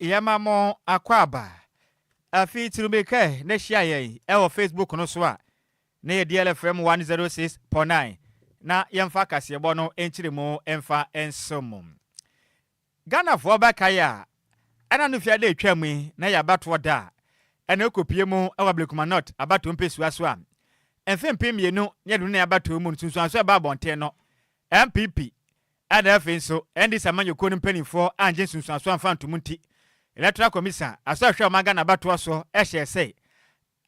Yɛma mo akwaaba. Afei tu mirika na hyia yɛn wɔ Facebook no so a, na yɛ DL FM 106.9 na yɛmfa kaseɛbɔ no nkyerɛmu mfa nsom mo. Ghanafoɔ bɛkae a, ɛna no fi ada ɛtwa mu yi na yɛ abatoɔ da a, ɛna ɛkɔpue mu wɔ Ablekuma North abatoɔ mpesua so a, mfe mpem mmienu ne aduonu nan abatoɔ mu nsunsuansoɔ a ɛbaa abɔnten no, NPP a na afei nso NDC amanyɔkuo no mpanimfoɔ annye nsunsuansoɔ amfa antom nti, Electoral Commission asɔ a ɛhwɛ ɔman Ghana abatoɔ so hyɛɛ sɛ,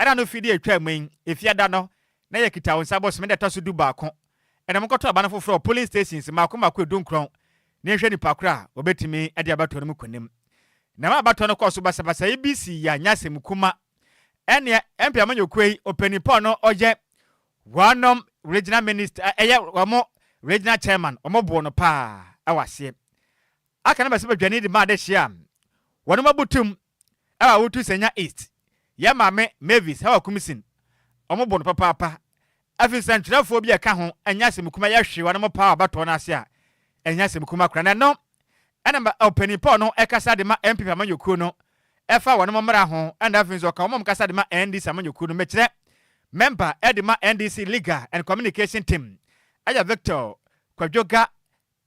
ɛna no firi deɛ ɛtwaa mu yi, Efiada no, na ɛyɛ Kita-Wo-Nsa bosome da a ɛtɔ so du baako, ɛna monkɔto aba no foforɔ wɔ polling stations mmaako mmaako adunkron na yɛnhwɛ nnipa korɔ a wɔbɛtumi adi abatoɔ no mu kunim. Na ɛma abatoɔ no kɔɔ so basabasa yi bi sii a nyɛ asɛm kuma. Ɛnneɛ MP amanyɔkuo yi ɔpanin pa a ɔno ɔyɛ Wɔn nom regional minist ɛ ɛyɛ wɔn regional chairman wɔn boo no paa ɛwɔ aseɛ aka no bɛ sɛ bɛ dwane de ma adehyeɛ a wɔnom abu tum ɛwɔ Awutu Sanya East yɛ maame Mavis Hawakumsin wɔn boo no papaapa ɛfiri nsɛntwerɛfoɔ bi a ɛka ho ɛnyɛ asɛm kuma yɛ hwee wɔnom paa wɔ abatoɔ no ase a ɛnyɛ asɛm kuma koraa na ɛno ɛna ma ɔpanin pɔɔ no ɛkasa de ma NPP amanyɔkuo no ɛfa wɔnom mmara ho ɛna afei nso ɔka wɔn a wɔn kasa de ma NDC amanyɔkuo no mekyerɛ mɛmba ɛde ma NDC Legal and Communication Team ɛyɛ Victor Kwadwoga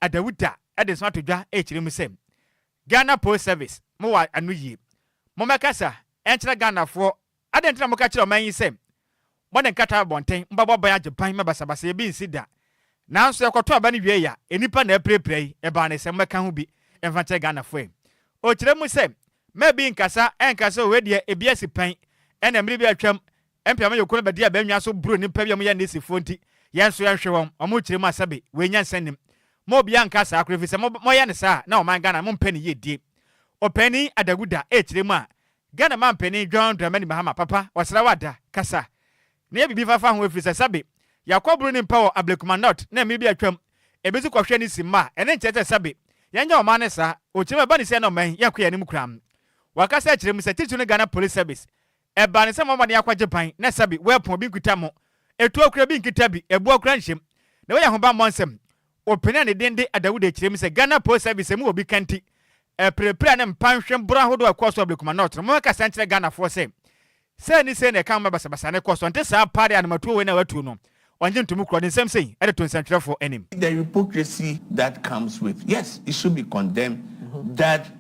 Adawuta ɛde nso ato dwa ɛrekyerɛ mu sɛ Ghana Post Service mo wɔ ano yie mo mɛkasa ɛnkyerɛ Ghanafoɔ Adɛn nti na moka kyerɛ ɔman yi sɛ, 'Mode nkata abɔnten, mobɛbɔ aban agyepan ma basabasayɛ bi nsi da'? Nanso yɛkɔtoo aba no wiei a, nnipa na apirapira yi, ɛbaa no sɛ mobɛka ho bi mfa nkyerɛ Ghanafoɔ ɛ? Ɔkyerɛ mu sɛ, Mma bi nnkasa ɛnka sɛ wei deɛ ebi asi pɛn, ɛna mmere bi a atwam, mpeama yɔku no bɛde aban nnwa so boroo nnipa bi a wɔyɛ Nisifoɔ nti, yɛn nso yɛnhwe wɔn, wɔrekyerɛ mu a sɛbe wei nyansa nnim. Mma obiara nnka saa koraa ɛfiri sɛ moyɛ no saa a, na ɔman Ghana mompɛ ne yiedie. Ɔpanin Adaguda rekyerɛ mu a, Ghana Manpanin John Dramani Mahama Papa ɔsra wo ada, kasa, na yɛ biribi fafa ho ɛfiri sɛ sɛbe yɛakɔ boro ne mpa wɔ Ablekuma North na mmere bi atwam ebi nso kɔhwɛ ne si mma a ɛno nkyerɛ sɛ sɛbe yɛnyɛ ɔman no saa ɔkyerɛ mu ɛba ne sɛ na ɔman yi yɛnkɔ yɛn anim koraa. Wakasa akyerɛ mu sɛ titiriw no Ghana Police Service ɛbaa no sɛ mommɔ mmɔden akɔgye ban na sɛbe wɔapɔn obi nkita mo ɛtuo koraa bi nkita bi ɛboɔ koraa nhyɛ mu na wei yɛ ahobammɔ nsɛm Ɔpenee ne din de Adawud akyire mu sɛ Ghana Post Service mu obi ka nti, ɛreperepere a na mpa nhwe borɔ ahodoɔ a ɛkɔɔ so wɔ Ablekuma North no, momɛka saa nkyerɛ Ghanafoɔ sɛ, sei ne sei na ɛka ma basabasa no kɔ so, ɛnte saa paa de a anomatuo wei na watu no, ɔngye ntomu korɔ, ne nsɛm sei de to nsɛntwerɛfoɔ anim. the hypocrisy that comes with yes it should be condemned that.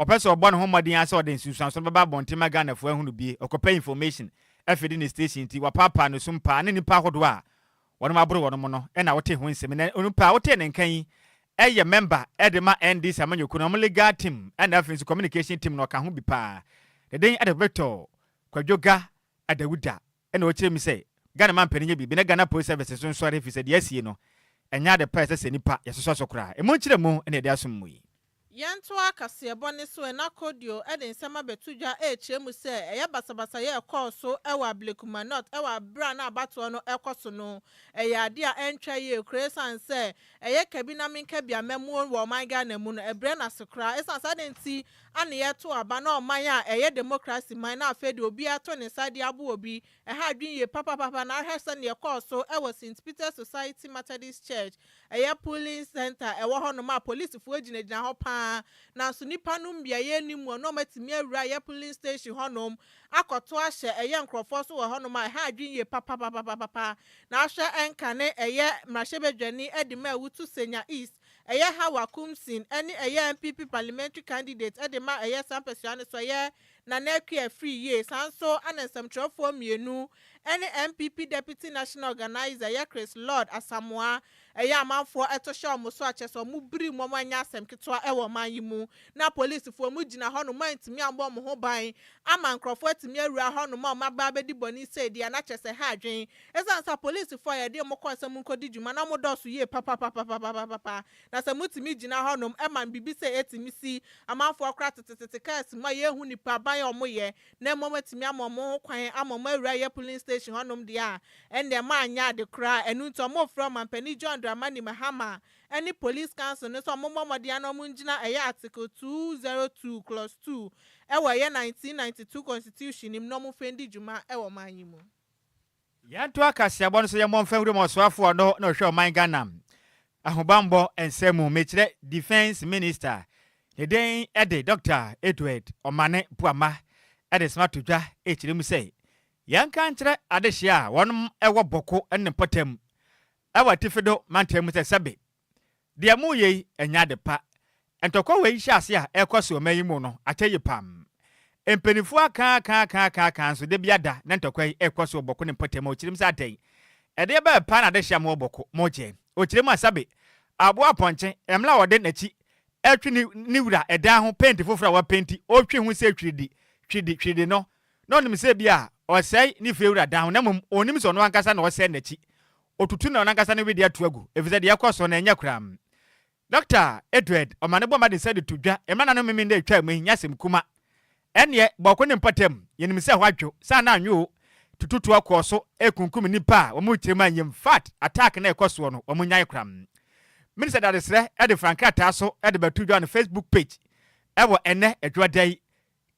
Ɔpɛ sɛ ɔbɔ ne ho mmɔden ara sɛ ɔde nsunsuanso no bɛba abɔnten ma Ghanafo ahu no bie. Ɔkɔpɛ information afide ne station nti wapaapaa ne sum paa ne nnipa ahodoɔ a wɔnom aboro wɔnom no na wotee ho nsem. Nnɛ onipa a wotee ne nka yi yɛ mɛmba de ma NDC amanyɔkuo no wɔn legal team na afei nso communication team no ɔka ho bi paa. Ne den de Victor Kwadwoga Adawuda Ɛna ɔkyerɛɛ me sɛ Ghana ma mpanin nyɛ biribi na Ghana Police Service nso nsɔre efisɛ deɛ asie no ɛnyɛ ade pa a ɛsɛ sɛ nnipa yɛsosɔ so koraa. Emu nkyerɛmu na yɛde asom mu yi. Yɛntoa kaseɛbɔ no so, Ɛna Kodio de nsɛm abɛto dwa rekyerɛ mu sɛ ɛyɛ basabasayɛ a ɛkɔɔ so wɔ Ablekuma North wɔ berɛ a na abatoɔ no rekɔ so no. Ɛyɛ adeɛ a ɛntwa yie koraa ɛsiane sɛ ɛyɛ kabinamenkabiammamuo wɔ ɔman Ghana mu no, ɛbrɛ no ase koraa ɛsiane saa adeɛ nti. a ne yɛ to aba na ɔman a ɛyɛ demokrasi man na afei de obiara to ne nsa de aboa obi, ɛha adwene yie papapapa na hwɛ sɛdeɛ ɛkɔɔ so wɔ St Peter's Society Methodist Church, ɛyɛ polling centre a ɛwɔ hɔ nom a polisifoɔ gyinagyina hɔ pa ara nanso nnipa nom biaeɛ nni muɔ na wɔatumi awura ɛyɛ polling station hɔ nom akɔto ahyɛ ɛyɛ nkorɔfoɔ so wɔ hɔ nom a ɛha adwene yie papapapapapa na hwɛ ɛnkane ɛyɛ mmarahyɛbadwani de ma awutu Senya East ɛyɛ Hawa Koomson ne ɛyɛ NPP parliamentary candidate de ma ɛyɛ saa mpɛsoa no so ɛyɛ Nana Akua Afriyie, saa nso na nsɛmtwerɛfoɔ mmienu ne NPP Deputy National Organiser ɛyɛ Chris Lord Asamoah ɛyɛ amanfoɔ to hyɛ wɔn so akyɛ sɛ wɔn biri mu, wɔn anyɛ asɛm ketewa wɔ ɔman yi mu na apolisifoɔ wɔn gyina hɔ nom antumi ammɔ wɔn ho ban ama nkorɔfoɔ atumi awura hɔ nom a wɔn abɛ abɛdi bɔne sei deɛ na kyerɛ sɛ ha adwene Esiane sɛ apolisifo a yɛde wɔn kɔe sɛ munkodi dwuma no dɔɔso yiye papapapapapapa, na sɛ mutumi gyina hɔnom ma biribi sɛɛ atumi si, amanfo a wɔkora tetetete kaa asi mu a yenhu nnipa aban a wɔyɛ, na mmom atumi ama wɔn ho kwan ama wɔn awura yɛ polling station hɔnom de a, ɛnde manyɛ ade koraa. Ɛno nti, wɔfrɛɛ Ɔmampanyin John Dramani Mahama ne Police Council no sɛ wɔmmɔ mmɔden ara na wɔngyina ɛyɛ Article 202, Clause 2 wɔ ɛyɛ 1992 Constitution no mu na wɔmfa ndi dwuma wɔ man yi mu. Yɛnto akaseabɔ no so yɛmmɔ mfa Nwuram Ɔsoafoɔ no na ɔhwɛ ɔman Ghana ahobanbɔ nsɛm mu, mekyerɛ Defence Minister, ne den de Dɔkta Edward Omane Boamah de soma to dwa kyerɛ mu sɛ yɛnka nkyerɛ adehyeɛ a wɔnom wɔ Bɔko ne Mpɔtam wɔ Atifido mantam mu sɛ sɛbe Deɛ moreyɛ yi nyɛ ade pa. Ntɔkwa wei nhyɛaseɛ a ɛrekɔ so ɔman yi mu no akyɛ yie pam. Mpaninfoɔ akaakaakaakaakaa nso dabia da na ntɔkwa yi rekɔ so wɔ Bɔko ne mpɔtam a ɔkyerɛm sɛ adɛn? Ɛdeɛ bɛn paa na adehye a mowɔ Bɔko mokyɛ? Ɔkyerɛm a sɛbe aboa apɔnkye mmla a ɔde nakyi retwe ne ne wura dan ho penti foforɔ a wapenti ɔretwe ho sɛ twiridi twiridi twiridi no na ɔnim sɛ ebia ɔresɛe ne fiewura dan ho na mmom ɔnnim sɛ ɔno ankasa na ɔresɛe nakyi Otutu na ɔno ankasa ne wedeɛ ato agu efisɛ deɛ ɛrekɔ so no ɛnyɛ koraa. Dɔkta Edward ɔma no bɔ mmɔden sɛ de to dwa mma nano memen na etwa mu ɛnnyɛ asɛm kuma. Ɛnneɛ bɔɔko ne mpɔtam yɛnim sɛ ɛhɔ adwo saa na anwo o. Tututoɔ kɔɔ so rekunkum nnipa a wɔn tirim anyɛ mu fat attack na ɛkɔ soɔ no wɔn nyae koraa. Minister Dadesrɛ de fra nkrataa so de bɛto dwa on Facebook page wɔ ɛnnɛ Adwoada yi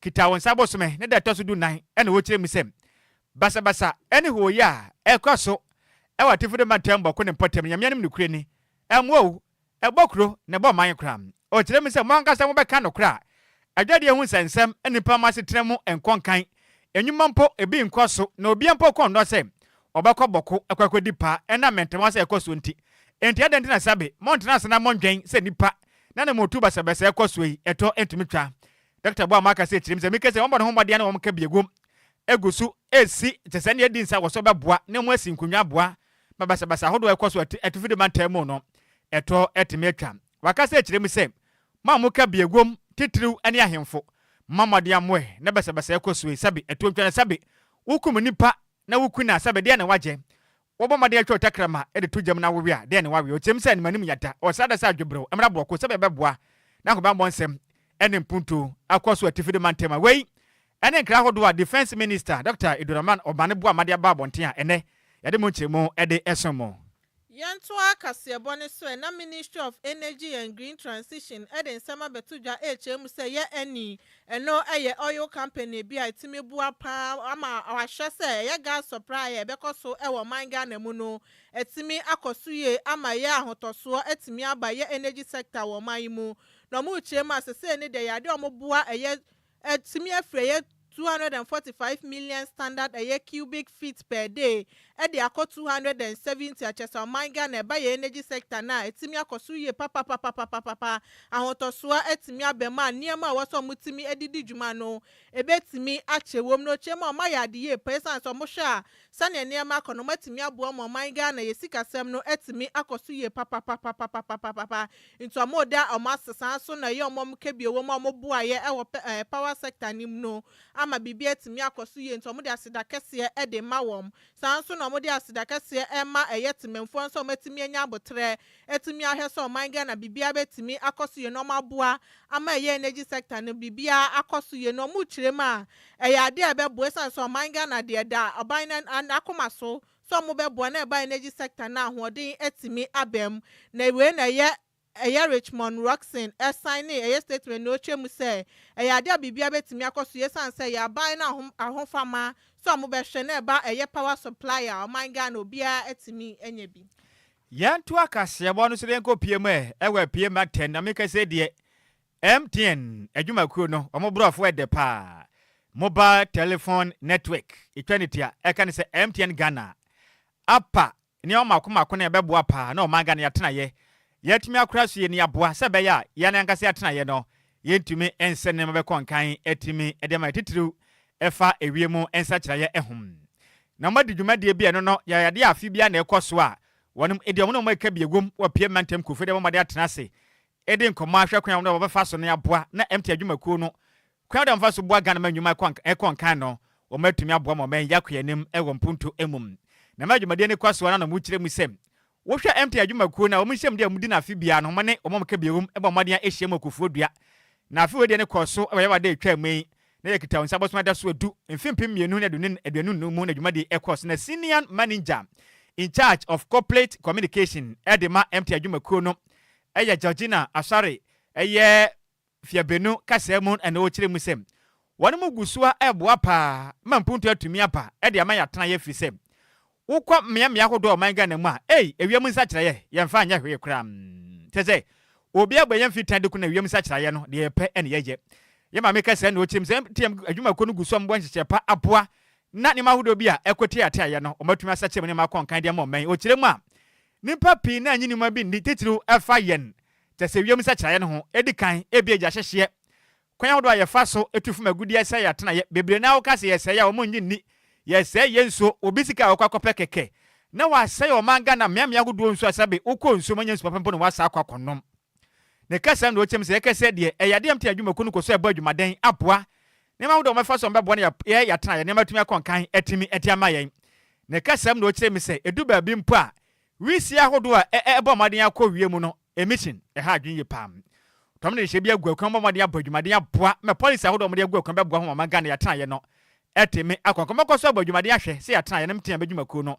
Kita Wo Nsa Bosome ne da ɛtɔ so dunan na wɔkyerɛ mu sɛ basabasa ne hooyɛ a ɛkɔ so wɔ Atifi de Mantam Bɔko ne Mpɔtam no Nyame anim nokorɛ ni, ɛmmoa owu, ɛbɔ kuro na ɛbɔ ɔman koraa. Ɔkyerɛ mu sɛ mo ankasa mobɛka nokorɛ a adwadie ho nsɛnsɛm nnipa mo asetena mu nkɔ nkan, nnwuma mpo ebi nkɔ so na obia mpo kɔ nnɔ sɛ ɔbɛkɔ bɔko akɔ akɔdi paa ɛnam mɛntɛmɔs a ɛkɔ soɔ nti. Enti adɛn nti na sabe montena ase na monnwɛn sɛ nnipa na na motu basabasa a ɛkɔ soɔ yi ɛtɔ ntumi twa Dɔkta Boamah aka sɛ tirim sɛ mekasɛ wɔbɔ ne ho mmɔden na wɔka biaguam gu so resi te sɛ nea edi nsa wɔ so bɛboa na wɔasi nkonnwa aboa ma basabasa ahodoɔ a ɛkɔ so Atifide mantam mu no ɛtoɔ atumi atwa. Waka sɛ tirim sɛ mo a moka biaguam titiriw ne ahemfo, momma mmɔden a moɛ na basabasa ɛkɔ so yi, sɛbe atuo ntwa na sɛbe wokum nnipa na woku na sɛbe deɛn na wɔagyɛ Wɔbɔ mmɔden atwa ɔtakra ma ɛde to gyam na awewe a, dɛn na wɔawe? Ɔteɛm sɛ, Animuanim nya da! Ɔsra da sɛ adweberew! Mmra bɔkoo sɛbe ɛbɛboa na ahobammɔ nsɛm ne mpuntuo akɔ so atifi de mantam a. Wei ne nkra ahodoɔ a Defence Minister Dɔkta Eduraman Obane Boamah de aba abɔnten a ɛnnɛ yɛde mo nkyeremu de som mo. Yɛntoa kaseɛbɔ no so ɛ, na Ministry of Energy and Green Transition de nsɛm abɛto dwa rekyerɛ mu sɛ yɛ ani Ɛno yɛ oil company bi a ɛtumi boa pa ara ma wɔahwɛ sɛ ɛyɛ gas supply a ɛbɛkɔ so wɔ ɔman Ghana mu no atumi akɔ so yie ama ɛyɛ ahotɔsoɔ atumi aba ɛyɛ energy sector wɔ ɔman yi mu na wɔrekyerɛ mu a sesei ne deɛ yɛade a wɔboa ɛyɛ atumi afiri ɛyɛ two hundred and forty five million standard ɛyɛ cubic feet per day ɛde akɔ two hundred and seventy akyɛsɛ ɔman Ghana ɛba yɛn energy sector no a ɛtumi akɔ soro yie papapapapapapa ahotɔsoɔ atumi aba mu a nneɛma a ɛwɔ sɛ wɔn tumi ɛde di dwuma no ɛbɛtumi akyɛ wɔ mu na ɔkyɛ mu a wɔn ayɛ ade yie paa ɛsiane sɛ wɔn hwɛ a sɛdeɛ nneɛma akɔ no wɔn atumi aboa wɔn ɔman Ghana yɛ sikasɛm no atumi akɔ so yie papapapapapapapa nti wɔn reda wɔn ase saa nso na ɛyɛ wɔn a wɔn kɛbie wɔ mu a wɔn boaeɛ ɛwɔ power sector no mu no. ama biribi atumi akɔ so yie nti wɔde aseda kɛseɛ de ma wɔn. Saa ara nso na wɔde aseda kɛseɛ ma ɛyɛ temanfoɔ no sɛ wɔatumi anya aboterɛ atumi ahwɛ sɛ ɔman Ghana biribiara bɛtumi akɔ so yie na wɔaboa ama ɛyɛ energy sector no biribiara akɔ so yie na wɔrekyerɛ mu a ɛyɛ adeɛ a ɛbɛboa ɛsiane sɛ ɔman Ghana deɛ ɛda ɔban no akoma so sɛ wɔbɛboa na ɛba energy sector no a ahoɔden atumi aba mu na wei na ɛyɛ Ɛyɛ Richmond Rockson ɛsan ne ɛyɛ Statesman na ɔtwa mu sɛ ɛyɛ adeɛ a biribiara bɛtumi akɔ so yie ɛsiane sɛ ɛyɛ aban no ahofama sɛ wɔbɛhwɛ na ɛba ɛyɛ power supply a ɔman Ghana obiara atumi anya bi. Yɛnto akaseɛbɔ no so na yɛnkɔ pie mu ɛ wɔ apie mma tɛn na meka sɛ deɛ MTN adwumakuo no wɔn borɔfo ɛdɛ paa Mobile Telephone Network ɛtwa ne tia ɛka ne sɛ MTN Ghana apa Nneɛma mmaako mmaako na ɛbɛboa paa na ɔman Ghana atenaeɛ yɛatumi akora so yɛ nea aboa sɛ ɛbɛyɛ a yɛn ankasa atenaeɛ no yɛntumi nsɛ nneɛma bɛkɔ nkan atumi de ama yɛ titiriw ɛfa ewiem nsakyeraeɛ ho. Na wɔadi dwumadie bi a ɛno no yɛ adeɛ a afe biara na ɛkɔ so a wɔnom de wɔn ne wɔn a ɛka bi ɛwom wɔ pie mantam nkurɔfoɔ de bɛbɔ mmɔden atena ase de nkɔmmɔ ahwɛ kwan a wɔnom de wɔbɛfa so no aboa na MTI adwumakuo no Kwan a wɔde mfa so boa Ghana ma nnwuma kɔ nkan no, wɔatumi aboa ma ɔman yi akɔ yɛn anim wɔ mpontu mu. Na ɛma dwumadie no kɔ so ara na wɔkyerɛ mu sɛ, wohwɛ MTN adwumakuo no a, wɔn nhyiam deɛ wɔdi no afe biara no, wɔn ne wɔn a wɔka bio no bɔ mmɔden ara hyiam wɔ Kofoɔ Dua. Na afe wei deɛ no kɔɔ so wɔ Yawɛ da a ɛtwaa mu yi, na ɛyɛ Kita Wo Nsa Bɔ Som Adaso Edu, mfe mpem mmienu ne aduonu nnum mu na dwumadie yi kɔɔ so na Senior Manager in charge of Corporate Communication de ma MTN adwumakuo no yɛ Georgina Asare yɛ Mfeabenu kasaa mu na ɔkyerɛ mu sɛ, Wɔnom gu soa reboa paa ma mpuntuo atumi aba de ama yɛatenaeɛ firi sɛ wokɔ mmea mmea ahodoɔ wɔ ɔman Ghana mu a ei ɛwiam nsakyeraeɛ yɛmfa nyɛ hwee koraa kyerɛ sɛ obi abɔ yɛn mfiri tan de kuna ɛwiam nsakyeraeɛ no deɛ yɛpɛ na yɛyɛ Yɛ maame kasaa na ɔkyerɛ mu sɛ MTM adwumakuo no gu so a wɔbɔ nhyehyɛɛ pa aboa na nneɛma ahodoɔ bi a ɛkɔ tiateaeɛ no wɔatumi asakyera mu nneɛma akɔ nkan de ama ɔman ɔkyerɛ mu a Nnipa pii na nnye nnwuma bi nni, titiriw ɛfa yɛn te sɛ wim nsakyeraeɛ no ho. Ɛdi kan, ebia gya hyehyeɛ, kwan ahodoɔ a yɛfa so tu fam agudeɛ sɛe atenaeɛ. Bebree no ara woka sɛ yɛsɛe a, wɔnnye nni. Yɛsɛe yɛn nsuo, obi sika a ɔkɔ akɔpɛ kɛkɛ, na wɔasɛe ɔman Ghana mmeammea ahodoɔ nsuo asabe, wokɔ nsuo mu a wonya nsu papa mpo na wɔasa akɔ akɔnom. Ne kasa na ɔkyɛm sɛ ɛkɛsɛ deɛ ɛyɛ adeɛ a mte adwumakuo no kɔ so ɛbɔ adwumaden aboa nneɛma ahodoɔ a wɔbɛfa so a wɔbɛboa na yɛn yɛatenaeɛ nneɛma atumi akɔ nkan atumi de ama yɛn. Ne kasa mu na ɔkyerɛ me sɛ ɛdu baabi mpo a wisie ahodoɔ a ɛ ɛbɔ mmɔden akɔ wie mu no emission ɛha adwene yie paa. Tɔm de nhyɛ bi agu akwan mu bɔ mmɔden abɔ adwumaden aboa ma policy ahodoɔ a wɔde agu akwan bɛboa ho ma Ghana yɛatenaeɛ no atumi akɔ nkan. Mɛkɔ so abɔ adwumaden ahwɛ sɛ yɛatenaeɛ no mtea bɛdwumakuo no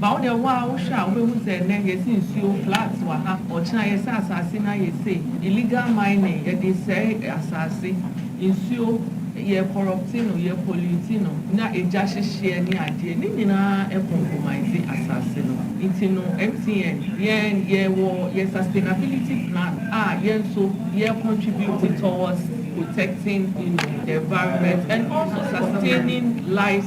Ba wo deɛ wo ara wohwɛ a wobɛhu sɛ ɛnnɛ yɛsi nsuo, flats, wɔ ha, ɔkyena yɛsɛ asase no ayɛ sei, illegal mining, yɛde sɛe asase, nsuo, yɛ corrupte no, yɛ pollute no, na egya hyehyeɛ ne adeɛ, ne nyinaa ɛ compromise asase no. Nti no MTN yɛn yɛwɔ yɛ sustainability plan a yɛn nso yɛ contribute towards protecting you know the environment and also sustaining lives,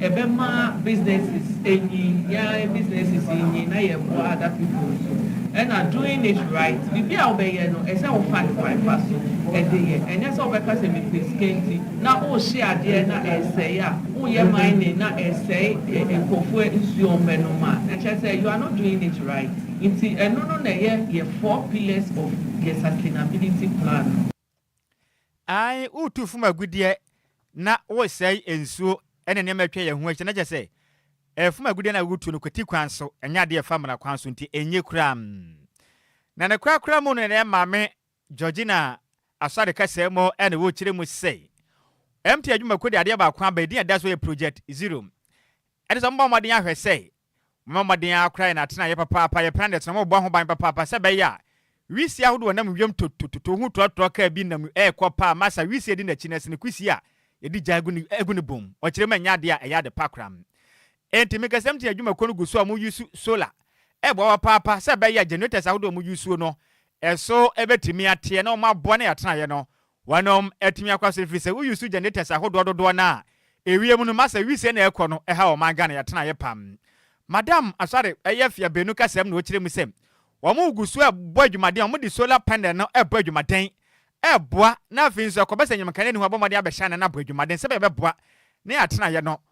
Ɛbɛma businesses anyin, yɛn businesses nyin na yɛboa other people nso. Ɛna doing it right, biribi a wobɛyɛ no ɛsɛ sɛ wofa no kwan pa so de yɛ. Ɛnyɛ sɛ wobɛka sɛ mepɛ sika nti na wohye adeɛ na ɛresɛe a, woyɛ mining na ɛresɛe nkurɔfoɔ nsuo a wɔbɛnom a, ɛkyerɛ sɛ you are not doing it right. Nti ɛno no na ɛyɛ yɛn four pillars of yɛn sustainability plan no. Aane, woretu fam agudeɛ na woresɛe nsuo ne nneɛma atwa yɛn ho ahyia, na kyerɛ sɛ, fam agudeɛ no a woretu no kwati kwan so, ɛnyɛ adeɛ ɛfa mmara kwan so, nti ɛnye koraa. Na ne korakora mu no ne Maame Georgina Asare kasaa mu na wɔrekyerɛ mu sɛ, MTI adwumakuo de adeɛ baako aba, ɛdin a ɛda so yɛ Project Zero, ɛne sɛ wɔbɔ mmɔden ahwɛ sɛ Momma mmɔden ara koraa yɛn atenaeɛ papaapa, yɛpɛ na yɛtena mu, mobɔ ho ban papaapa sɛ ɛbɛyɛ a wisie ahodoɔ a ɛnam wiem totototo ho trɔtrɔ kaa bi nam rekɔ paa ma saa wisie di n'akyi na ɛsene kwisie a yɛde gya agu ne agu ne bɔn mu. Ɔkyerɛ mu nyɛ adeɛ a ɛyɛ ade pa koraa. Enti Mekasam Team adwumakuo no gu so a wɔn use solar reboa papaapa sɛ ɛbɛyɛ a generators ahodoɔ a wɔn use no ɛso bɛtumi ateɛ na wɔn aboa na yɛn atenaeɛ no Wɔnom atumi akɔ so efiri sɛ wo use generators ahodoɔ dodoɔ no a ewiem no ma sɛ wisie na ɛkɔ no ɛha ɔman Ghana yatenaeɛ pam. Madam Asare ɛyɛ fia benu kasam na ɔkyerɛ mu sɛ wɔn gu so ɛbɔ adwumaden wɔn de solar panel no ɛbɔ adwumaden ɛboa na afei nso ɛkɔba sɛ anyim nkanea ni hɔ abɔ mmɔden abɛhyɛ anan abɔ adwumaden sɛbɛɛ ɛbɛboa ne yatenaeɛ no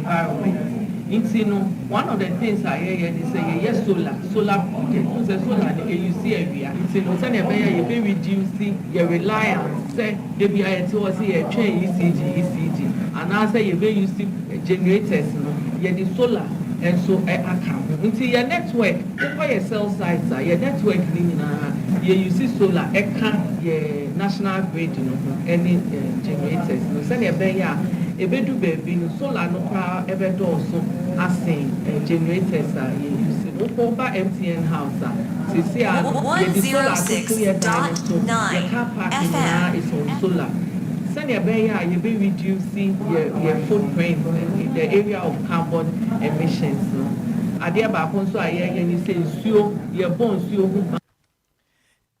environment nti no one of the things a yɛyɛ ne sɛ yɛyɛ solar solar project wohu sɛ solar no e use awia nti no sɛdeɛ ɛbɛyɛ a yɛbɛ reduce yɛ reliance sɛ da biara yɛte hɔ sɛ yɛretwɛn ECG ECG anaasɛ yɛbɛ use generators no yɛde solar nso aka ho nti yɛ network Wokɔ yɛ cell sites a yɛ network no nyinaa yɛ use solar ɛka yɛ national grid no ho ɛne generators no sɛnea ɛbɛyɛ a ɛbɛdu baabi no solar no koraa ɛbɛdɔɔso asen generators a yɛ use no wokɔ woba MTN house a seesei ara no yɛde solar atoto yɛ dan no so yɛ car park nyinaa is on solar sɛnea ɛbɛyɛ a yɛbɛ reduce yɛ yɛ footprint in the area of. carbon emissions no. Adeɛ baako nso a yɛyɛ ne sɛ nsuo, yɛbɔ nsuo ho ban.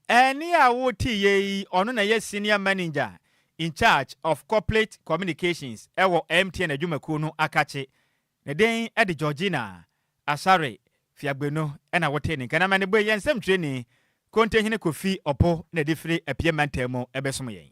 Ɛnne a woteeɛ yi, ɔno na ɛyɛ Senior Manager in charge of Corporate Communications wɔ MTN adwumakuo no akakye. Ne din de Georgina Asare Fiagbenu na wotee ne nka. Na mɛnebɔ yi, yɛn nsɛmtwerɛni, Kontehene Kofi Oppo na ɛde firi Apia Mantam mu bɛsom yɛn.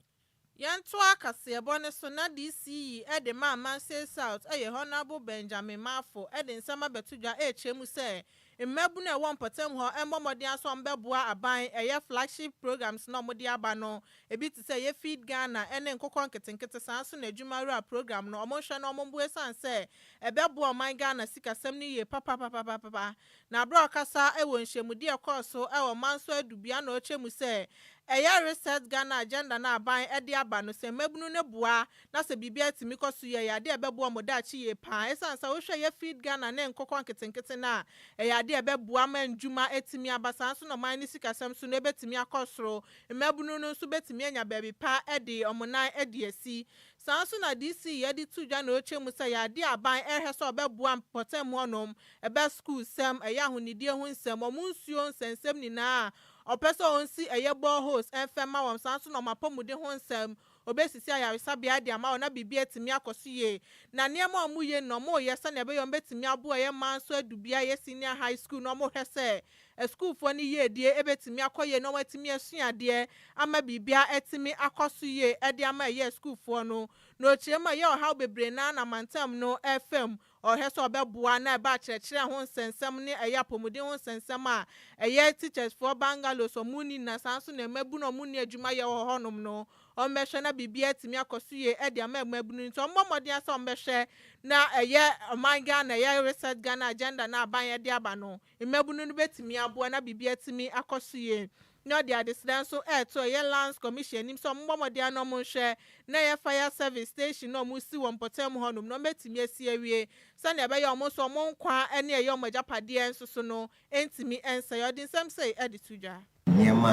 Yɛntoa kaseɛbɔ no so na DC yi de ma Amansea South yɛ Honourable Benjamin Marfo de nsɛm abɛto dwa rekyerɛ mu sɛ mmabunu a ɛwɔ mpɔtam hɔ mmɔ mmɔden ara sɛ wɔbɛboa aban ɛyɛ flagship programmes no a wɔde aba no ebi te sɛ ɛyɛ Feed Ghana ne Nkokɔ Nketenkete saa nso na Adwuma Wura Programme no wɔnhwɛ na wɔmmoa ɛsiane sɛ ɛbɛboa ɔman Ghana sikasɛm no yie papapapapapa. Na bere a ɔkasa wɔ nhyiamudi a ɛkɔɔ so wɔ Mansour Adubia na ɔkyɛ mu sɛ ɛyɛ Reset Ghana Agenda no a aban de aba no sɛ mmabunu no boa na sɛ biribi atumi kɔ so yie a ɛyɛ ade a ɛbɛboa wɔn daakye yie pa ara ɛsiane sɛ wohwɛ yɛ Feed Ghana ne nkokɔ nketenkete no a ɛyɛ ade a ɛbɛboa ma ndwuma atumi aba saa nso na ɔman no sikasɛm so no ɛbɛtumi akɔ soro mmabunu no nso bɛtumi anya baabi pa de wɔn nan de asi Saa ara nso na DC yɛ de to dwa na ɔkyɛ mu sɛ yɛade aban rehwɛ sɛ ɔbɛboa mpɔtam hɔnom, ɛbɛ sukuusɛm, ɛyɛ ahonidie ho nsɛm, wɔn nsuo nsɛnsɛm nyinaa a, ɔpɛ sɛ ɔnsi ɛyɛ boreholes mfa mma wɔn, saa ara nso na wɔn apɔmuden ho nsɛm, ɔbɛsisi ayaresabea de ama wɔn na biribiara atumi akɔ so yie. Na nneɛma a wɔyɛ nyinaa wɔyɛ sɛdeɛ ɛbɛyɛ wɔbɛtumi aboa ɛyɛ man so adu bea ɛyɛ senior high school no wɔhwɛ sɛ Asukuufoɔ no yiedie ɛbɛtumi akɔ yie na wɔatumi asua adeɛ ama biribiara atumi akɔ so yie de ama ɛyɛ asukuufoɔ no. Na ɔkyerɛ mu a ɛyɛ ɔhaw bebree no ara na mantam no refa mu. Ɔhwɛ sɛ ɔbɛboa na ɛba akyerɛkyerɛ ho nsɛnsɛm ne ɛyɛ apɔmuden ho nsɛnsɛm a ɛyɛ teachers foɔ bungalows wɔn nni na saa nso na mmabunu a wɔn nni adwuma yɛ wɔ hɔnom no wɔn bɛhwɛ na biribiara atumi akɔ so yie de ama mmabunu. Nti wɔn mmɔ mmɔden ara sɛ wɔn bɛhwɛ na ɛyɛ ɔman Ghana ɛyɛ Reset Ghana Agenda no a aban de aba no Mmabunu no bɛtumi aboa na biribi atumi akɔ so yie. Na ɔde adesrɛ nso reto ɛyɛ Lands Commission anim sɛ wɔmmɔ mmɔden ara na wɔnhwɛ na ɛyɛ Fire Service Station no a wɔresi wɔ mpɔtam hɔnom no wɔatumi asi awie sɛnea ɛbɛyɛ a wɔn nso wɔn nkwa ne ɛyɛ wɔn agyapadeɛ nso so no ntumi nsɛe. Ɔde nsɛm sei de to dwa. Nneɛma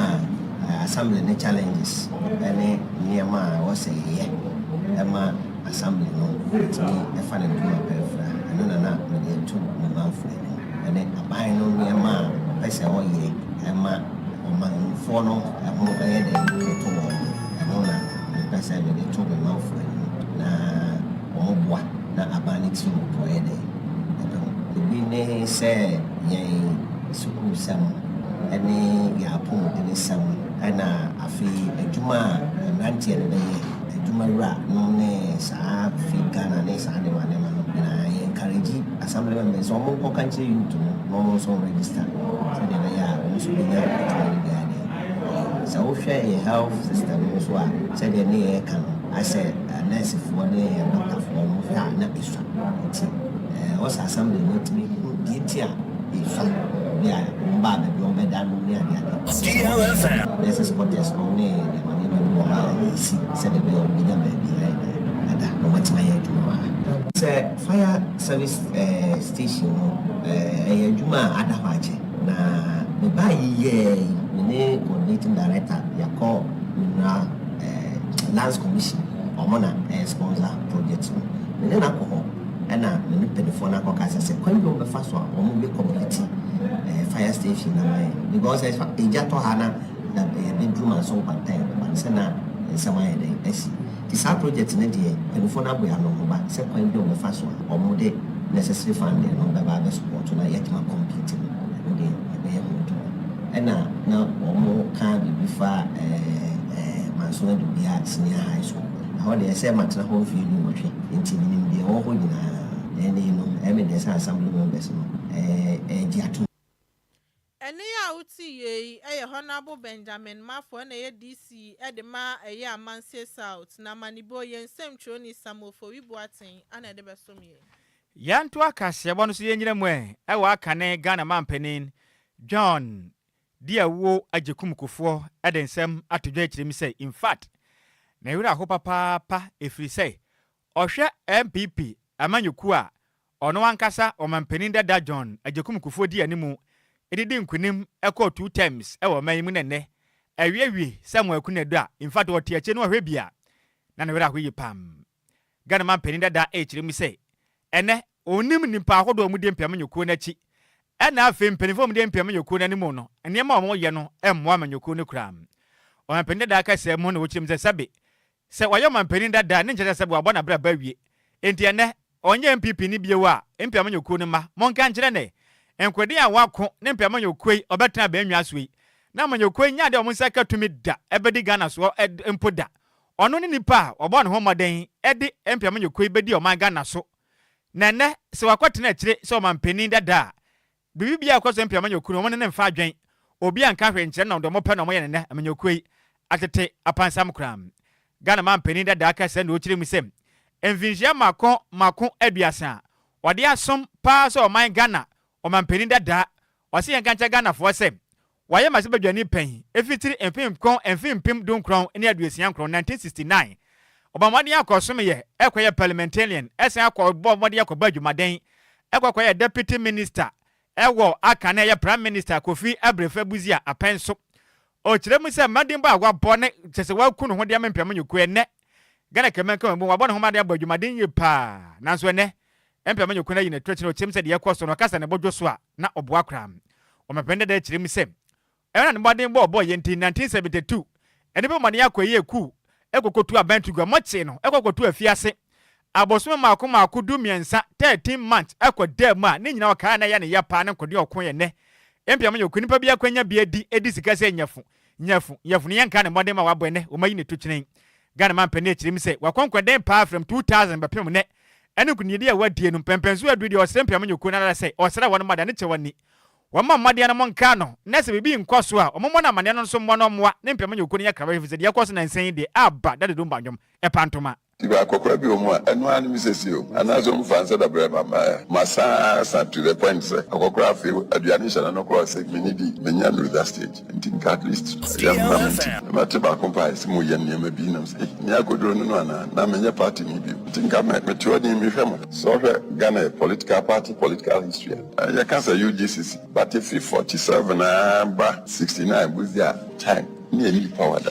a Assembly no Challenges ne Nneɛma a Ɛwɔ sɛ Yɛyɛ ma Assembly no Tumi Fa Ne Nnwuma Pɛrɛfrɛ a Ɛno na na Mede Ato Me Mamfra Mu ne Aban no Nneɛma a Ɔpɛ sɛ Ɔyɛ Ma Ɔmanfoɔ no Ho Bɛyɛ Dɛn Bɛto Wɔn no Ɛno na Mepɛ sɛ Mede To Me Mamfra Mu na Wɔboa na Aban no Tirim Bɔyɛ Dɛn Ebi ne sɛ yɛn sukuusɛm ne yɛn apɔmudenesɛm na afei adwuma a mmeranteɛ no bɛyɛ, adwumawura nom ne saa fake Ghana ne saa nneɛma nneɛma no nyinaa. Yɛ encourage assembly members sɛ wɔn nkɔka nkyerɛ youth no na wɔn nso register sɛdeɛ ɛbɛyɛ a wɔn nso bɛnya adwuma no bi ayɛ. Sɛ wohwɛ yɛ health system no nso a sɛdeɛ ne yɛɛka no ayɛ sɛ nursefoɔ ne yɛn doctorfoɔ no wohwɛ a na Nti ɛɛ ɔsɛ assembly no atumi hu deɛ nti a efa bi a wɔn baa baabi wɔn bɛda no ne ade ade. DLFM. Ɛsɛ sɛ contest no ne nneɛma nneɛma bi wɔ hɔ a esi sɛ baabi a wɔn bɛnya baabi ayɛ dɛ ada na wɔn atumi ayɛ adwuma a. Sɛ fire service ɛɛ station no ɛɛ ɛyɛ adwuma a ada hɔ akyɛ na me baa yi yɛɛ yi me ne coordinating director yɛakɔ Menwura ɛɛ lands commission wɔn na ɛɛ sponsor. project no, me ne no akɔ hɔ na me ne mpaninfoɔ no akɔkasa sɛ kwan bi a wɔn bɛfa so a wɔn bɛ kɔmpliti ɛɛ fire station na wɔayɛ no because ɛfa egya tɔ ha na na ɛyɛ de duru ma so nkwanta yɛ ma no sɛ na nsɛm ayɛ dɛ asi ti saa project no deɛ mpaninfoɔ no abɔ yɛ ano ho ba sɛ kwan bi a wɔn bɛfa so a wɔn de necessary funding no bɛba abɛ support na yɛatuma kɔmpliti no ɛno deɛ ɛbɛyɛ ho adwuma ɛna na wɔn ka biribi fa ɛɛ ɛɛ manso na dubi a senior high school. Ɛhɔ deɛ, ɛsɛ matena hɔ mfeɛ dunwɔtwe, enti menim deɛ ɛwɔ hɔ nyinaa. Ɛnne yi no, ɛyɛ me dɛ sɛ Assembly members no regye atom. Ɛnne yi a wotee yei yɛ Honourable Benjamin Mafoe na ɛyɛ DC de ma ɛyɛ Amansie South, na Manibo, yɛn nsɛmtwerɛni Samuel Fowie Boateng na ɛde bɛsom yɛn. Yɛntoa kaseɛbɔ no so yɛnnyina mu ɛ wɔ akane Ghana manpanin John Di awuo agyekum kufoɔ de nsɛm ato dwa akyire mu sɛ in fact ne werɛ aho papaapa ɛfiri sɛ ɔhwɛ NPP amanyɔkuo a ɔno ankasa ɔmanpanin dada John Agyekum Kufuor di animu de di nkunim kɔɔ two terms wɔ ɔman yi mu na ɛnnɛ awiewie Samuel Akunadu a in fact ɔte akyire no ɔhwɛ bi a na ne werɛ aho yie paa. Ghana manpanin dada rekyerɛ mu sɛ, ɛnnɛ ɔnnim nnipa ahodoɔ a wɔdi mpeamanyɔkuo no akyi ɛna afei mpaninfoɔ a wɔdi mpeamanyɔkuo no anim no nneɛma a wɔyɛ no mmoa amanyɔkuo no koraa. Ɔmanpanin dada kasaa mu na ɔkyerɛ mu sɛ sɛbe sɛ wayɛ ɔmanpanin dada ne nkyerɛ sɛ sɛbe wabɔ n'abrabɔ awie enti ɛnnɛ ɔnyɛ NPP ni bio a mpeamanyɔkuo no mma monka nkyerɛ ne nkoden a wɔako ne mpeamanyɔkuo yi ɔbɛtena abɛnnwa so yi na amanyɔkuo yi nnya adeɛ a wɔn nsa ka tumi da ɛbɛdi Ghana soɔ mpo da. Ɔno ne nipa a wabɔ ne ho mmɔden de mpeamanyɔkuo yi bɛdi ɔman Ghana so. Na ɛnnɛ sɛ wakɔtena akyire sɛ ɔmanpanin dada a, biribi biara a ɛkɔ so mpeamanyɔkuo no wɔn ne no mfa adwen. Obiara nka hwee nkyerɛ no na wɔde wɔn pɛ na wɔyɛ no nnɛ amanyɔkuo yi atete apansam koraa. Ghana manpanin dada ka sɛ na ɔkyerɛ mu sɛ mfinhyia mmaako mmaako aduasa a ɔde asom paa sɛ ɔman Ghana ɔmanpanin dada. Ɔse yɛnka nkyerɛ Ghanafoɔ sɛ Wɔayɛ m'ase badwani panyin efi tsir mfemkron mfe mpem du nkron nye aduosia nkron, 1969. Wɔbɔ mbɔden akɔ som yɛ, kɔ yɛ parliamentarian, san akɔ bɔ mbɔden akɔ bɔ edwumaden, kɔ kɔ yɛ deputy minister wɔ aka na yɛ prime minister Kofi Abrefɛ Busia apɛn so. Ɔkyerɛ mu sɛ mbɔdenbɔ a wɔabɔ na kyerɛ sɛ wɔaku no ho de ama mpeamu nyokuo, ɛnnɛ, Ghana Kraman ka wɔn abom, wɔabɔ ne ho mmɔden abɔ adwumaden yie pa ara. Nanso ɛnnɛ, ɛmpɛ ma Nyokun ayi n'atuatew na ɔteɛm sɛ deɛ ɛrekɔ so no, ɔkasa a ne bo dwo so a, na ɔboa koraa. Ɔmampanin dadaa kyerɛ mu sɛ, Ɛno na ne mmɔden bɔ a ɔbɔeɛ nti, in 1972, nnipa bɔ mmɔden akɔ ɛyɛɛ kuw kɔkɔtu aban to gua. Mote no, ɛkɔ kɔto afiase abosome mmaako mmaako, du mmiɛnsa, 13 months, ɛkɔ daa mu a, ne nyinaa ɔkaa a na ɛyɛ ne ya pa ara ne nkode a ɔko yɛ nnɛ. Ɛmpɛ ma Nyokun nipa biara kwan nya bi adi, di sika sɛ nyɛfo. Nyafo, Nyafo no yɛnka ne mmɔden ma wabɔ ɛnɛ, wɔma yi ne to kyerɛn. Ghana mampanin ɛkyerɛ mu sɛ wakɔnkɔden paa frɛm 2000 bɛpem nnɛ. Ɛne nkunimdidi a wadie no, mpɛnpɛnsoɔ aduru deɛ ɔsrɛ mpiam nyɛ kuo no ara sɛ ɔsrɛ wɔn mma deɛ ne kyɛ wɔn ni. Wɔmma mmɔden no mo nkaa no, na sɛ biribi nkɔ so a, wɔn mmɔ no amaneɛ no nso mmɔ no mmoa ne mpiam nyɛ kuo no nyɛ krawa efisɛ deɛ ɛkɔ so nansa yi deɛ, aba, da dodo mba nnwom, ɛpa ntoma. Tube akɔkora bi wɔ mu a ɛno ara ne me sɛsie o, anaasɛ wɔn faa nsa da brɛɛ me ama ɛ. Masan asa to the point sɛ akɔkora afei o, aduane nhyɛ n'ano koraa o, sɛ minnidi, menya nnuru that stage. Nti nka at least yɛn honam nti na mate baako mpo a ɛse moyɛ nneɛma bi nam sɛ ei, nea akoduro ne no anaa, na menyɛ party ni bio. Nti nka me, mete hɔ din mehwɛ mo. Sɛ wohwɛ Ghana yɛ political party political history a, ɛɛ yɛka sɛ UGCC, but ɛfiri forty seven ara ba sixty nine bosea a time ne ɛnni power da.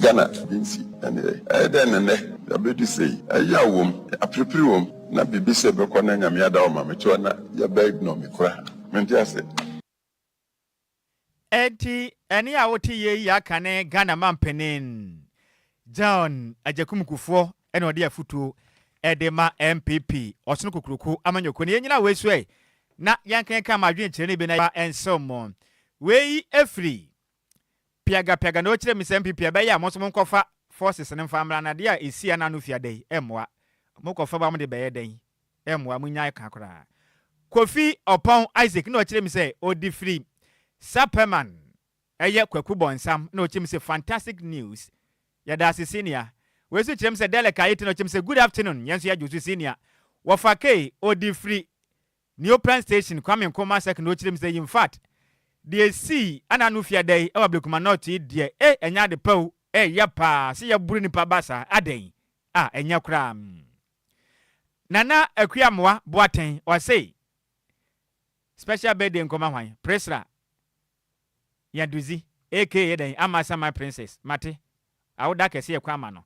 Ghana bi nsi ɛneɛ. Ɛyɛ dɛn na nnɛ yɛabɛdu sei? Ɛyaw wom, aperepere wom, na biribi sɛ bɛkɔ na Nyame ada wo ma me toɔ na yɛbɛ ignore me koraa. Mente ase. Enti ɛne a wote yei yi aka ne Ghana Mampanin John Agyekum Kufuor na ɔde afutuo de ma NPP Ɔsono Kokuroko Amanyɔkuo no. Yɛnnyina wei so ɛ na yɛnkenkan mo adwenkyerɛ no bi na yɛmfa nsew mo. Wei firi piagapiaga na ɔkyerɛ me sɛ mpe pii ɛbɛyɛ a mo nso mo nkɔfa forces no mfa mmra no adeɛ a ɛsi ɛna ano fiada yi ɛmmoa mo kɔfa ba mo de bɛyɛ dɛn ɛmmoa mo nnyae ka koraa Kofi Oppong Isaac na ɔkyerɛ me sɛ ɔde firi Sapperman ɛyɛ Kwaku Bonsam na ɔkyerɛ me sɛ fantastic news yɛdaase senior wei nso kyerɛ me sɛ Delek Ayete na ɔkyerɛ me sɛ good afternoon yɛn nso yɛgye wo so senior wɔfa kei ɔde firi New Plan Station, Kwame Nkrumah Circle na ɔkyerɛ mu sɛ, In fact, deɛ ɛsii Anna Anu Fiada yi wɔ Ablekuma North yi deɛ, eh, ɛnyɛ ade pa o, ɛyɛ paa, sɛ yɛboro nnipa ba saa, adɛn? Ah, ɛnyɛ koraa. Nana Akua Amoah Boateng, ɔse, Special birthday nkɔma hwan? Priscilla. Nyadudzi aka yɛ dɛn ama Asaman Princess, Mate, awoda kɛse yɛ kwan ma no.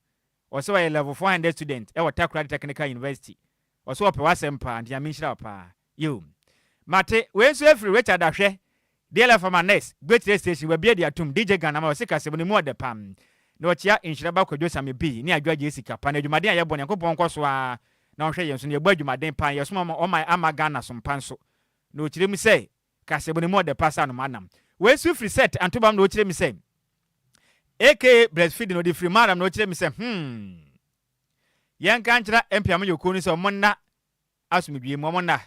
Ɔse ɔyɛ level four hundred student wɔ Takoradi Technical University. Ɔse ɔpɛ w'asɛm paa nti Nyame nhyira wo paa. Yoo. Mate, wei nso ɛfiri Richard Ahwɛ, DLF ama Nurse, Gbetere Station, Wabi Adi Atum, DJ Ghana ma ɔse kasamu no mu ɔdɛ pam. Na ɔkyea Nhyira ba Kwadwo Same Bee ne Adwoa Gyee Sika pa na adwumaden a yɛbɔ Nyankopɔn nkɔ so ara na ɔnhwɛ yɛn so na yɛbɔ adwumaden paa na yɛsom ɔman ama Ghana som pa nso. Na ɔkyerɛ mu sɛ Ka sɛ bone mu ɔdɛ paa saa no m'anam wei nso firi sɛt antobam na ɔkyerɛ mi sɛ aka breast feeding ɔde firi m'anam na ɔkyerɛ mi sɛ hmm yɛn ka nkyerɛ mpeamyɔ kuo no sɛ ɔmo nna asomdwie mu ɔmo nna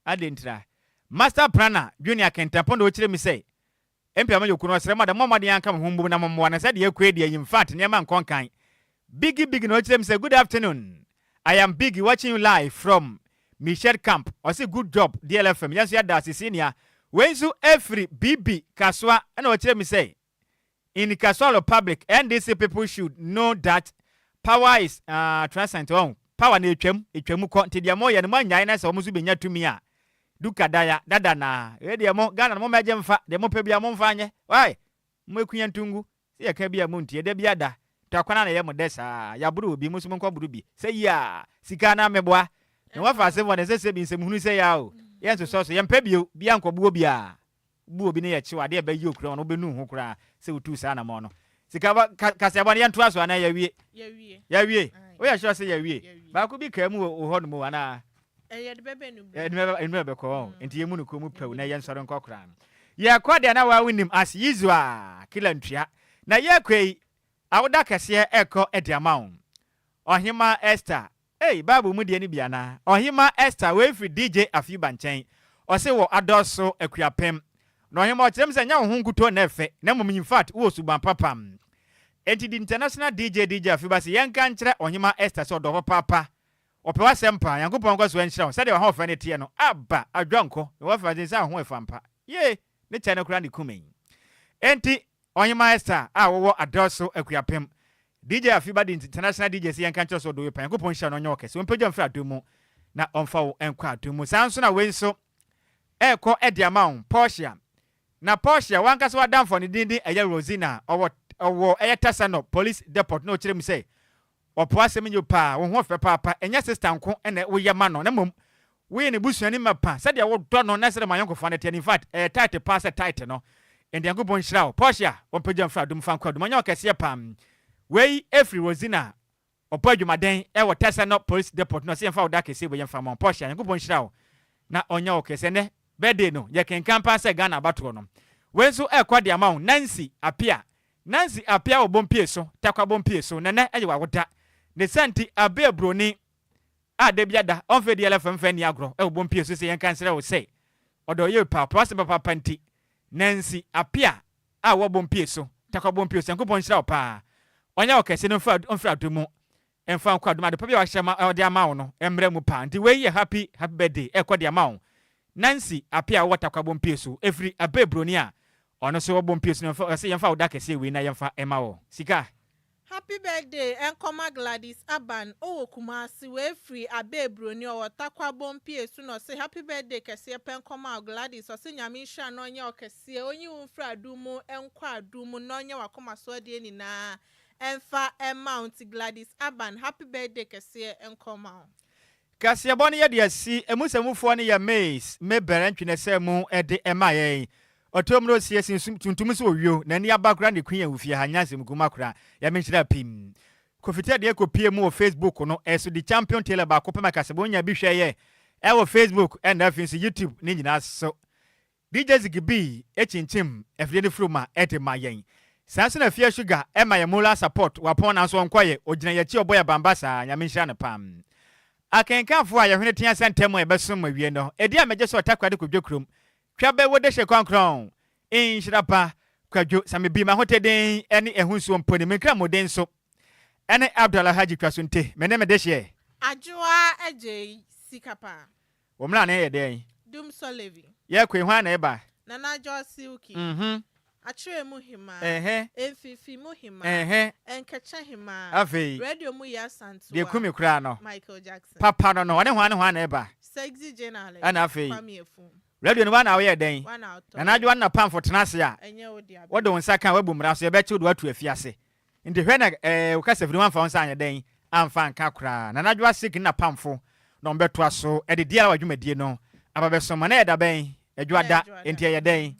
adɛntira master prana junior kɛntɛnpɔ na ɔkyerɛ mi sɛ Mpia me yokunu ɔsrɛ mo ada mommɔ mmɔden anka mo ho mmom na mommoa no sɛ deɛ ɛkɔ adi ayi mfat nneɛma nkɔ nkan Biggy Biggy na ɔkyerɛ me sɛ good afternoon I am Biggy watching you live from Michette camp ɔse good job DLFM yɛnso yɛda ase senior wei nso ɛfiri Bibi Kasoa ɛna ɔkyerɛ me sɛ in Kasoa republic NDC people should know that power is uh, transcent ɔn power no ɛtwam ɛtwam kɔ nti deɛ moyɛ no moannyae na sɛ wɔn nso bɛnya tumi a Du kadaya dada na wei deɛ mo Ghana no mo mɛgye mfa deɛ mo pɛ biara mo mfa nyɛ wai mo aku yɛn to ngu sɛ yɛ ka bi a mo ntie da bi ada tɔ akwan ana yɛ mo dɛ saa yɛ aboro obi mo nso mo nkɔ boro bi sɛ yiaa sika anaa me boa me ho afa asɛm wɔ ne nsɛ sɛ bi nsɛm hunu sɛ yaa o yɛ nsosɔ so yɛ mpɛ bio bia nkɔ boɔ biaa bu obi ne yɛ kyew ade a ɛbɛ yɛ okura wɔn wobɛ nu ho koraa sɛ wotuu saa anamɔn no sika ba ka kaseɛ bɔ no yɛ ntoa so anaa yɛ wie yɛ wie wo yɛ sure sɛ yɛ wie baako bi kaa mu wɔ wo hɔ nom o anaa yɛ de bɛ bɛ nu bɛ yɛ nu bɛ bɛ kɔ wɔn mm. nti yɛ mu no kɔ mu pɛw na yɛ nsɔre nkɔ koraa no yɛ kɔ deɛ na waa wo nim as usual kila ntua na yɛ kɔ yi awoda kɛseɛ ɛkɔ ɛde ama wo ɔhema Esther Ei bible mu deɛ no bi anaa? Ɔhema Esther wei firi DJ Afiuba nkyɛn ɔse wɔ adɔɔso akuapem na ɔhema ɔkyerɛ mu sɛ nyɛ wo ho nkutoo na ɛfɛ na mmom infact wowɔ suban papam enti the international DJ DJ Afiuba se yɛnka nkyerɛ ɔhema Esther sɛ ɔdɔ papaapa ɔpɛ w'asɛm paa Nyankopɔn nkɔ so nhyira wo sɛdeɛ w'ahoɔfɛ no teɛ no aba adwa nkɔ mewɔ afeanse sɛ ahoɔfampa yee ne kyɛ no koraa na ekumee enti Ɔhemmaa Esther a ɔwɔ Adelso Akuapem DJ Afibade International DJs yɛnka nkyerɛ sɛ ɔdɔ obi paa, Nyankopɔn nhyira no ɔnyɛ wo kɛse, ɔmpagya wo mfiri adom mu na ɔmfa wo nkɔ adom mu. Saa nso na wei nso ɛrekɔ de ama wo Portia, na Portia w'ankasa w'adamfo a ne din din ɛyɛ Rosina ɔwɔ ɔwɔ ɛyɛ Tassanor Police Depot na ɔkyerɛ mu sɛ Ɔpɔ asɛm nyi wo paa, wo ho ɔfɛ paapa, ɛnyɛ sister nko na wo yɛ ma no na mmom wo yɛ ne busuani mapa, sɛdeɛ wo dɔ no na sɛdeɛ mo ayɔnkofa no teɛ no infact ɛyɛ tight paa sɛ tight no, Nyankopɔn nhyira wo Portia, wɔn pagya mfra adum fa nkɔ adum, ɔnyɛ ɔkɛseɛ paa, wei ɛfiri Rosina ɔbɔ adwumaden ɛwɔ Tɛsɛnɔ police depot na ɔsɛ yɛnfa wo da kɛseɛ wei yɛnfa ma wo Portia, Nyankopɔn nhyira wo na ɔnyɛ wo kɛseɛ, ɛnɛ birthday no yɛkenkan paa sɛ Ghana abatoɔ no wei nso ɛrekɔ de ama wo Nancy Appiah Nancy Apeawo Bompieso, Tarkwa Bompieso, na nnɛ yɛ w'awoda. Ne saa nti, abe aburoni a da biara da ɔmfa adiɛla fɛmfɛ nni agorɔ wɔ Bompieso sɛ yɛnka nsrɛ wo sɛ, ɔdɔ ɔyɛ opa, ɔpɛ w'asɛm papaapa nti, Nancy Apea a wowɔ Bompieso, Tarkwa Bompieso, Nyankopɔn nhyira wo paa, ɔnyɛ wo kɛse na ɔmfiri adom mu Ɛmfa ho kwadwom adepa bi a wahyɛ ma ɔde ama wo no mmrɛ mu paa nti wei yɛ happy happy birthday ɛkɔ de ama wo Nancy Appiah a ɔwɔ Tarkwa Bompiesu ɛfiri Abay Broni a ɔno nso wɔ Bompiesu no mfa ɔse yɛmfa wo da kɛseɛ wei na yɛmfa ɛma wo sika Happy birthday ɛnkɔ ma Gladys Aban ɔwɔ Kumasi wei firi Abay Broni ɔwɔ Tarkwa Bompiesu na ɔse happy birthday kɛseɛ pɛ nkɔ ma wo Gladys ɔse Nyame nhyira na ɔnyɛ ɔkɛseɛ ɔnyi wo mfiri adum mu ɛnkɔ adum mu na ɔnyɛ wakoma so adeɛ nyinaa Ɛmfa mma wo nti Gladys Aban happy birthday kɛseɛ nkɔ ma wo. Kaseɛbɔ no yɛde asi ɛmu sɛ mufoɔ no yɛ Mays Mebel ntwenɛsɛm mu de ma yɛn. Ɔtoo mmrɛ osie sen sum tuntum so owio na ani aba koraa ne queen awu fie ha nyansam gu ma koraa yɛ me nhyira pim. Kofi Ted yɛ kɔ pie mu wɔ Facebook no so di champion tailor baako pɛ ma kaseɛbɔ nya bi hwɛ yɛ wɔ Facebook ɛna afei nso YouTube ne nyinaa so DJ Ziggy B kyinkyim afidie no firi mu a ɛde ma yɛn. Saa nso na Afia Sugar ɛma yɛn moral support wapɔn nanso ɔnkɔeɛ, ɔgyina yɛn akyi ɔbɔ yɛn abanbaa saa, Nyame nhyira no paa. Akenkanfoɔ a yɛn hwene tea sɛ ntɛm a yɛbɛsom awie no, ɛdi a mɛgye sɛ ɔtakoradi kɔdwo kurom, twa bɛ wo dehye kɔnkrɔn, nhyira pa, kwadwo, sa me bi, m'ahoteden ne ɛho nsuo mponi, me nkra mu den nso ɛne Abdul Alhaji twa so nte, me ne me dehyeɛ. Adwoa agyei sika paa. Wo mmara no yɛ dɛn? Dum Sɔlevi. Yɛkoi, hwan na ɛba? Nana George Silky. Mm-hmm. Akyerɛ mu hemaa. Ɛhɛ. Mfimfini mu hemaa. Ɛhɛ. Ɛnkekyɛ hemaa. Afei. Radio mu yɛ asantewa. Deɛ kumi koraa no. Michael Jackson. Papa no no, ɔne hwan ne hwan na ɛba? Sexy Jane Allen. Ɛna afei. Kwame Afum. Radio no, woa na woyɛ dɛn? Woa na wotɔeɛ. Nana Adwoa ne Napamfo tena ase a. Ɛnyɛ wo dea bɛn. Wode wo nsa ka a, woabu mmara so, yɛbɛkye wo de woato afiase. Nti hwɛ na eh wo kasafiri no amfa wo nsa anyɛ dɛn amfa anka koraa. Nana Adwoa Sick ne n'apamfo na wɔbɛtoa so de DRY dwumadie no aba bɛsom ma no ɛyɛ da bɛn? Adwoa da, enti ɛyɛ dɛn?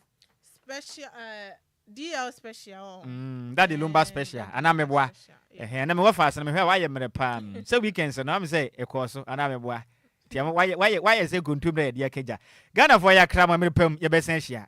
Special eh DL special ɔɔ. Mm Daddy Lumba special anaa meboa? Ɛhɛn na me wɔfas no mehwɛ a wayɛ mmerɛ paa mm sɛ weekends no ɔhwɛ sɛ ɛkɔɔ so anaa meboa? Nti ama wayɛ wayɛ wayɛ sɛ kontomire a yɛde akagya. Ghanafoɔ yɛakra mo a mmerɛ pa mu yɛbɛsan ahyia.